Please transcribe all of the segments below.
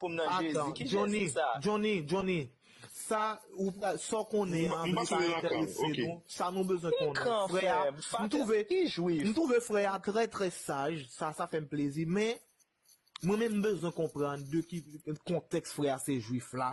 poum nan jezi ki jezi sa. Johnny Johnny sa ou pral sa w konnen an li pa entèrese nou sa nou bezwen konnen frè a m twouve m twouve frè a trè trè saj sa sa fè m plezi men mwen menm m bezwen konprann de ki kontèks frè a se jwif la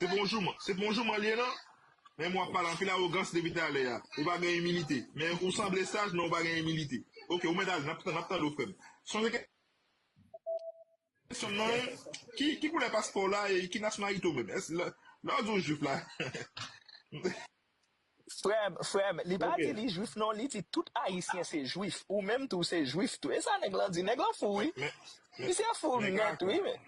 Se pou yon jouman, se pou yon jouman li ye nan? Menm wap pale anpil awogans depi talè a, ou pa gen imilite, men ou sanble saj men ou pa gen imilite. Ok ou mèt ale, nap nap tande w frè m. Sonje kè syon m nan an, ki ki koulè paspò w la e ki nasyonalite w menm? Èske lè lè w di w jwif la? Frèm, frèm, li pa di li jwif non li di tout ayisyen se jwif, ou menm tou se jwif tou e sa nèg lan di, nèg lan fou wi, misye fou nèt wi men.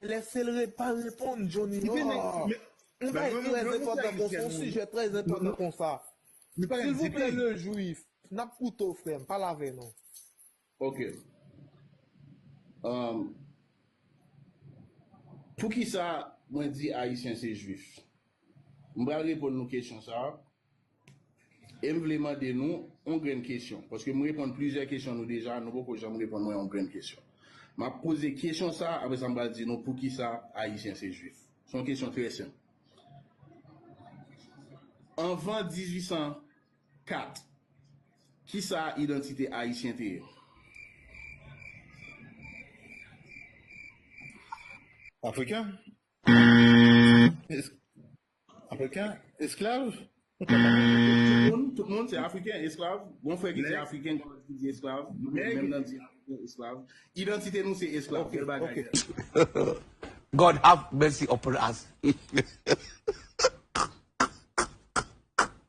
Lè se l red pa reponn Johnny ahh. Yon bagay trè enpòtan konsa yon sijè trè enpòtan konsa silvouplè le juif nap koute w frè m pale avè nou. Ok Umm Poukisa mwen di Ayisyen se Jwif? M pral reponn nou kesyon sa a e m vle mande nou yon grenn kesyon paske m reponn plizyè kesyon nou deja, nou poko janm reponn mwen yon grenn kesyon. M ap poze kesyon sa a apresa m pral di nou poukisa Ayisyen se Jwif. Se yon kesyon trè senp. Anvan 1800 4, Kisa idantite Ayisyen te ye? Afriken? Afriken? Esklav? Tout moun se Afriken, esklav. Gon frè ki se Afriken, gon lòt ki di esklav. Menm nan di Afriken, esklav. Idantite nou se esklav. Bèl bagay, Dèlè. God have mercy upon us.